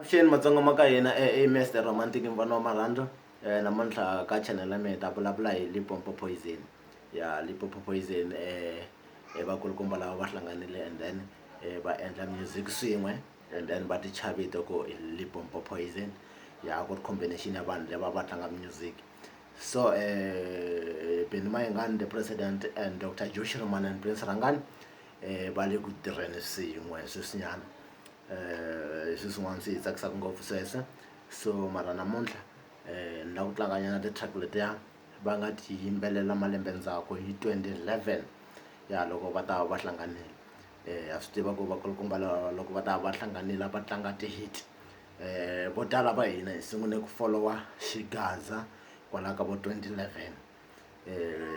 avuxeni matsonga ma ka hina e mest romantic mvana wa marhandzu um namuntlha ka channel ya mina ta vulavula hi lipompo poison ya lipompo poison um vakulukumba lava va hlanganile and then um va endla music swin'we and then va ticha vito ku hi lipompo poison ya ku ri combination ya vanhu lava va tlanga music so um beni mayingani the president and dr josh roman and prince rangani um va le ku tirheni swin'we sweswinyana eh, swi swin'wana swi hi tsakisaka ngopfu sweswe so mara namuntlha eh, ni la ku tlanganyana ti-track letiya va nga ti yimbelela malembe ndzhaku hi 2011 ya loko va ta va hlanganile um ha swi tiva ku vakulukumba loko va ta va hlanganile va tlanga ti-hit um vo tala va hina hi sungule ku folowa xigaza kwalaho ka vo 2011 um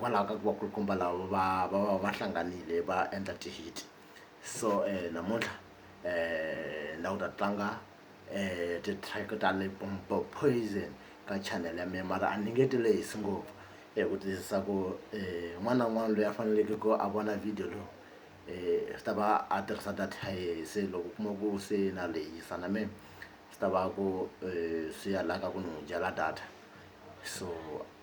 hikwalaho ka ku vakulukumba lava va va va va hlanganile va endla ti-hit so namuntlha um languta tlanga um ti-track ta Limpopo Poison ka channel ya mina mara a ni nge ti lehisi ngopfu hi ku tiyisisa ku um un'wana na un'wana loyi a faneleke ku a vona video lowu um swi ta va a tirhisa data ya yehe se loko u kuma ku se na lehisa na mina swi ta va ku swi ya la ka ku ni n'wi dyela data so.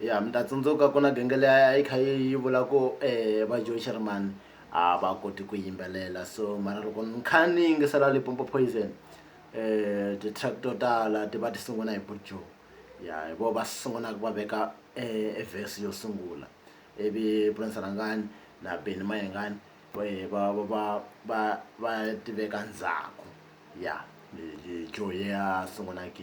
ya mi ta tsundzuka ku na genge leyi a yi kha yi vula ku va Joe Sherman a va koti ku yimbelela so mara loko ni kha ni yingisela Limpopo Poison um ti-track to tala ti va ti sungula hi Buju ya hi vo va sungulaka va veka e verse yo sungula ivi Prince Rhangani na Benny Mayengani va va va va va ti veka ndzhaku ya Joe ya sungulaka.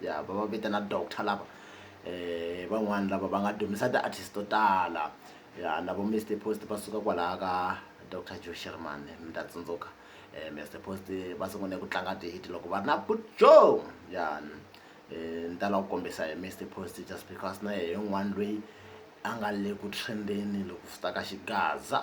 ya va va vitana doctor lava i van'wani lava va nga dumisa ti artist to tala ya na vo Mister Post va suka kwalaya ka doctor Joe Shirimani mi ta tsundzuka Mister Post va sungule ku tlanga ti hit loko va ri na Good Joe ya ni ta la ku kombisa hi Mister Post just because na yehe un'wani lweyi a nga le ku trend-eni loko swi ta ka xigaza.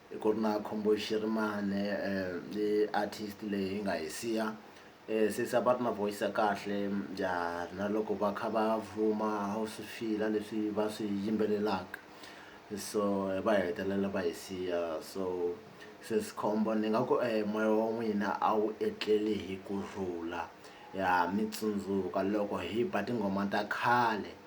Ku ri na Khumbuyi Xirimani i artist leyi hi nga hi siya since a va ri na voice ya kahle na loko va kha va vuma a wu swi feel-a leswi va swi yimbelelaka so va hetelela va hi siya so sesi khombo ni nga ku moya wa n'wina a wu etleli hi ku rhula ha mi tsundzuka loko hi ba tinghoma ta khale.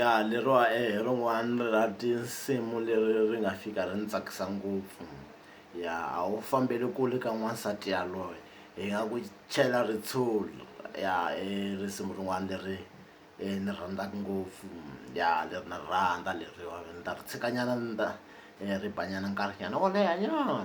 ya leriwa hi rin'wana ra tinsimu leri ri nga fika ri ni tsakisa ngopfu ya a wu fambeli kule ka n'wansati yaloye hi nga ku chela ritshuri ya i risimu rin'wana leri ni rhandzaka ngopfu ya leri na ri rhandza leriwani ni ta ri tshika nyana ni ta ri ba nyana nkarhi nyana wo leha nyana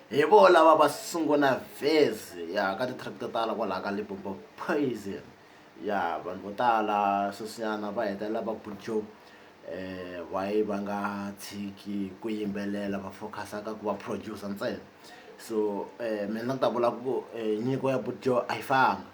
Hi vo lava va sungula vhezi ya ka ti-track to tala kwalaha ka Limpopo Poison ya vanhu vo tala sweswinyana va hetelela va bujo why va nga tshiki ku yimbelela va focus-a ka ku va producer ntsena so mina ni ta vula ku nyiko ya bujo a yi fanga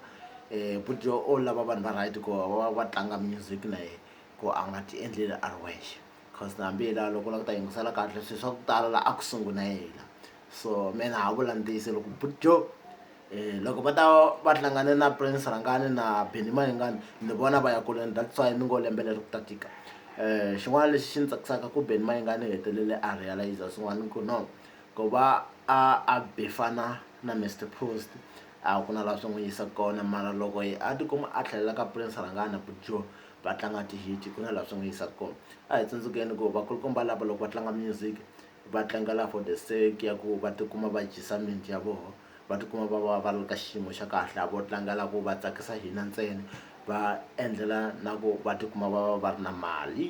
bujo o lava vanhu va right ku va va tlanga music na yehe ku a nga ti endleli a ri wexe. coz na hambi la loko u la ku ta yingisela kahle swi swa ku tala la a ku sungula yena so me na ha vula ntiyise loko butjo um loko va ta va hlangane na prince rhangani na beni mayingani ni vona va ya kuleni that's why ni ngo lembe leri ku ta tika um xin'wana lexi xi ni tsakisaka ku beni mayingani hetelele a realiza swin'wana ku no ku va a a befana na mr post a ku na laha swi n'wi yisa kona mara loko a tikuma a tlhelela ka prince rhangani butjo va tlanga ti-hit ku na laha swi nga yisaka kona a hi tsundzukeni ku vakulukumba lava loko va tlanga music va tlangela for the sake ya ku va tikuma va dyisa miti ya vona va tikuma va va va ri ka xiyimo xa kahle a vo tlangela ku va tsakisa hina ntsena va endlela na ku va tikuma va va va ri na mali.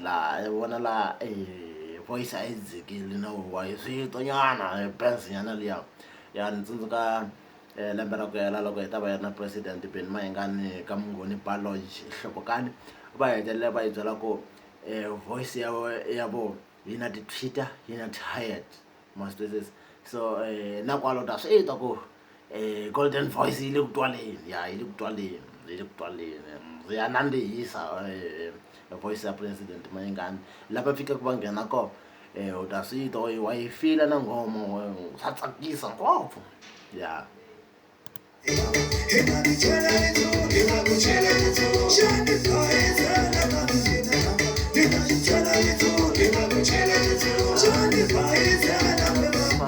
laha hi vona laha e voice a yi dzikile no huhwa hi swin'we nyana hi benz nyana liya ya ni tsundzuka lembe ra ku hela loko hi ta va hi ri na president Benny Mayengani ka Mnghoeni bar lounge eNhlokokani va hetelela va hi byela ku voice ya ya vona yi na ti tweeter yi na tired ma swi twisisa so na kwala u ta swi twa ku. Eh, golden voice yi le ku twaleni ya yi le ku twaleni yi le ku twaleni ndzi ya nandzihisa eh, voice ya president mayingani lava fikaka va nghena ko eh, u ta swi twa wa yi- wa yi fila na ngoma wa- swa tsakisa ngopfu ya Thank you.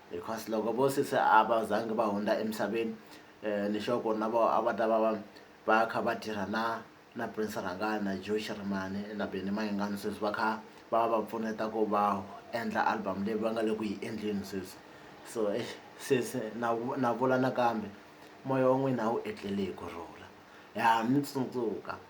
because loko vo sesi a va zangi va hundza emisaveni ni sure ku na vo a va ta va va va kha va tirha na na Prince Rhangani na Joe Shirimani na Benny Mayengani sweswi va kha va va pfuneta ku va endla album leyi va nga le ku yi endleni sweswi so exi sesi na na vula nakambe moya wa n'wina a wu etleli hi ku rhula ha mi tsundzuka.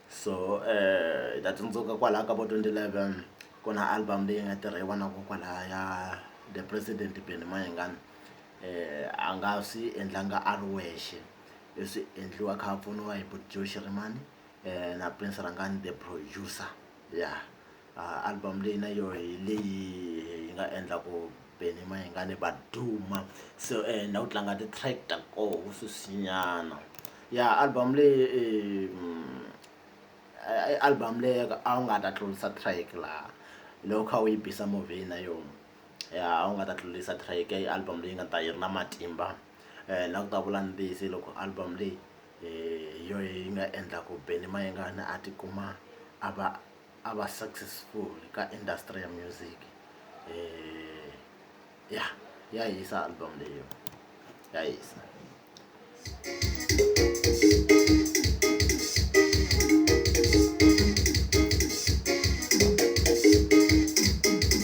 so hi ta tsundzuka kwalaya ka vo twenty eleven ku na album leyi nga tirha hi vana vo kwalaya the president Benny Mayengani a nga swi endlanga a ri wexe i swi endliwa a kha a pfuniwa hi Buti Joe Shirimani na Prince Rhangani the producer ya. Album leyi na yoho hi leyi hi nga endla ku Benny Mayengani va duma so na ku tlanga ti-track ta koho sweswi nyana ya album leyi i album leyi a wu nga ta tlurisa track laha loko u kha u yi bisa movie na yona ya a wu nga ta tlurisa track i album leyi nga ta yi ri na matimba na ku ta vula ntiyiso hi loko album leyi hi yoho yi nga endla ku Benny Mayengani a tikuma a va. a va successful ka industry ya music eh ya ya hisa album leyo ya hisa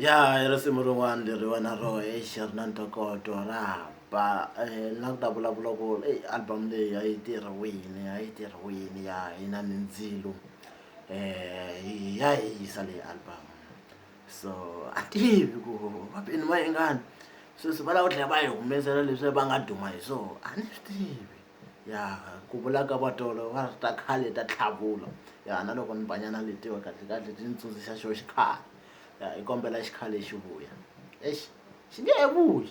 ya hi risimu rin'wana leri wena ro hi xi ri na ntokoto ra ba eh, na ku ta vulavula ku eyi album leyi a yi tirhiwini a yi tirhiwini ya hi na mindzilo ya hisa leyi album so a tivi ku va bini va yingani sweswi va lava ku tlhela va yi humesela leswi va nga duma hi swona a ni swi tivi ya ku vula ka va tolo va ri ta khale ta tlhavula ya na loko ni banyana letiwa kahle kahle ti ni tsundzuxa xo xikhale ya hi kombela xikhale xi vuya exi xi nge he vuyi.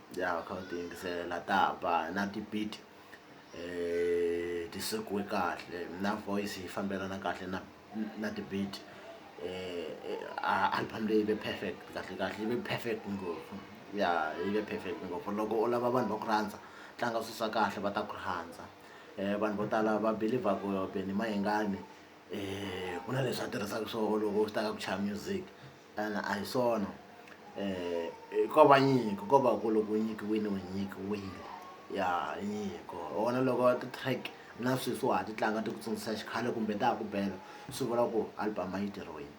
ya kha u ti yingisela ta ba na ti-beat ti sekiwe kahle na voice yi fambelana kahle na na ti-beat album leyi ve perfect kahle kahle yi ve perfect ngopfu ya yi ve perfect ngopfu loko u lava vanhu va ku rhandza tlanga swilo swa kahle va ta ku rhandza vanhu vo tala va believer ku Benny Mayengani ku na leswi a tirhisaka swona loko swi ta ka ku chaya music. Ina a hi swona ko va nyiko ko va ku loko u nyikiwile u nyikiwile ya nyiko hi wona loko ti-track na sweswi wa ha ti tlanga ti ku tsundzuxa xikhale kumbe ta ha ku bela swi vula ku album a yi tirhiwile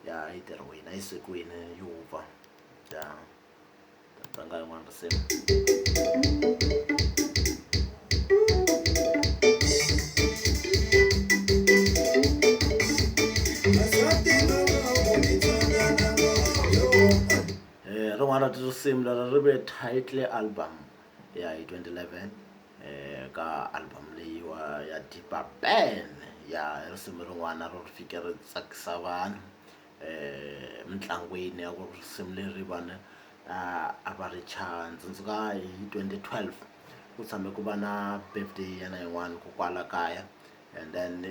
ya yi tirhiwile a yi sekiwile yi wupfa ya. Tanga yin'wana risimu. Eh, rin'wana ra tinsimu leri ri ve title album ya hi 2011 eh ka album leyiwa ya Deeper Burn ya risimu rin'wana ro fike ri tsakisa vanhu. emitlangwini ya ku risimu leri vanhu a va ri chaya ndzi tsundzuka hi twenty twelve ku tshame ku va na birthday ya yena yin'wani ko kwala kaya and then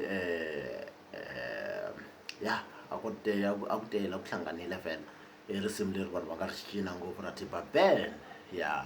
ya a ku tele a ku tele a ku hlanganile vhele i risimu leri vanhu va nga ri cina ngopfu ra tiba ben ya.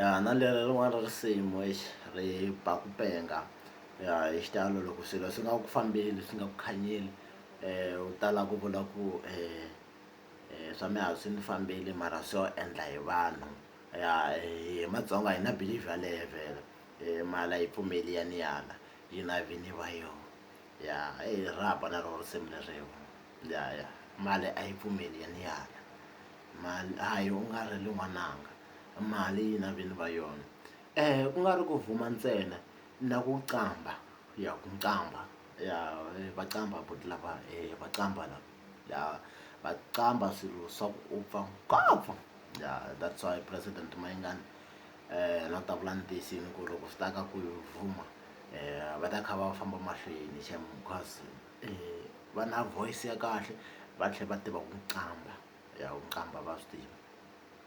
ya na leri rin'wana ra risimu exi ri ba ku penga ya hi xitalo loko swilo swi nga ku fambeli swi nga ku khanyeli u tala ku vula ku . swa mina a swi ni fambeli mara swo endla hi vanhu ya hi matsonga hi na believe yaleyo vhele hi mali a yi pfumeli ya ni ala yi na vini va yo ya i rhaba na roho risimu leriwa ya ya mali a yi pfumeli ya ni ala mali a yi u nga ri li n'wananga mali yi na vini va yona ku nga ri ku vuma ntsena na ku qambha ya ku qambha ya va qambha buti lava va qambha lava. ya va qambha swilo swa ku upfa ngopfu ya that's why president mayingani um na ta vula ni tiyisini ku loko swi ta ka ku vuma um va ta kha va famba mahlweni xem because um va na voice ya kahle va tlhela va tiva ku qambha ya ku qambha va swi tiva.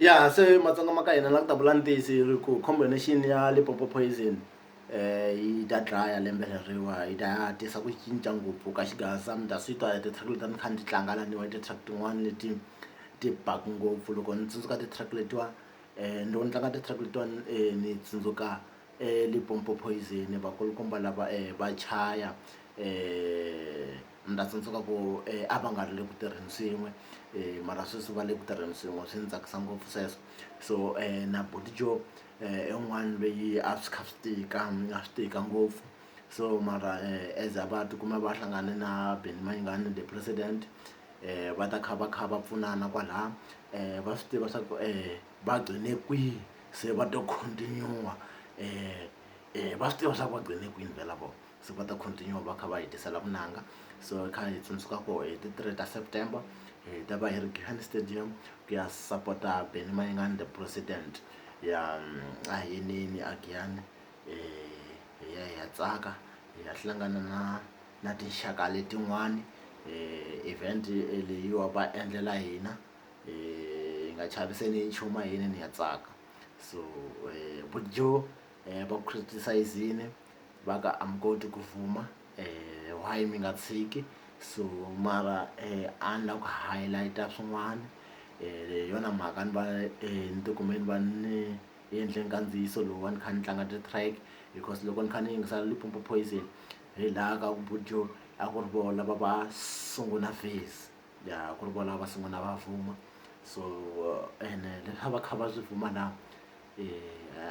ya se matsonga ma ka hina la ku ta vula ntiyisi ri ku combination ya lipopo poison um yi ta dlaya lembe leriwa yi ta ya tisa ku cinca ngopfu ka xigasa mi ta swi twa hi ti-track leti a ni kha ni ti tlanga laniwa i ti-track tin'wani leti ti baku ngopfu loko ni tsundzuka ti-track letiwa um loko ni tlanga ti-track letiwani ni tsundzuka. eLimpopo Poison vakulukumba lava va chaya ni ta tsundzuka ku a va nga ri le ku tirheni swin'we mara sweswi va le ku tirheni swin'we swi ni tsakisa ngopfu sweswo so na buti Joe i un'wana lweyi a swi kha swi tika a swi tika ngopfu so mara as va tikuma va hlangane na Benny Mayengani the president va ta kha va kha va pfunana kwalaya va swi tiva swa ku . va gqine kwihi se va to continue-a va swi tiva swa ku va gqine kwini vhela vona se va ta continue va kha va hi tisela vunanga so hi kha hi tsundzuka ku hi ti three ta September hi ta va hi ri Giyani stadium ku ya sapota Benny Mayengani the president ya a hi yiniyini a Giyani hi ya hi ya tsaka hi ya hlangana na na tinxaka letin'wani event leyiwa va endlela hina. hi nga chaviseni hi nchumu a hi yineni hi ya tsaka so bujo va ku criticize-ini va ka a mi koti ku vuma why mi nga tshiki so mara a ni la ku highlight-a swin'wana hi yona mhaka ni va ni tikume ni va ni endle nkandziyiso lowu a ni kha ni tlanga ti-track because loko ni kha ni yingisela Limpopo Poison hi laha ka ku bujo a ku ri vona va va sungula face. ya ku ri vona va sungula va fuma so ene leswi a va kha va swi fuma na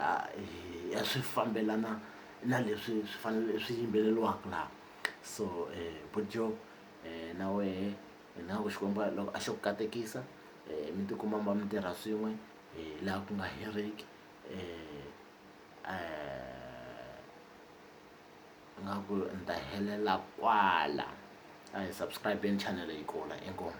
a swi fambelana na leswi swi fanele swi yimbeleriwaka laha so buti Joe na wehe hi nga ku Xikwembu a loko a xo ku katekisa mi tikuma mi tirha swin'we hi laha ku nga heriki . nga ku ni ta helela kwala a hi subscribe-eni channel yi kula inkomu.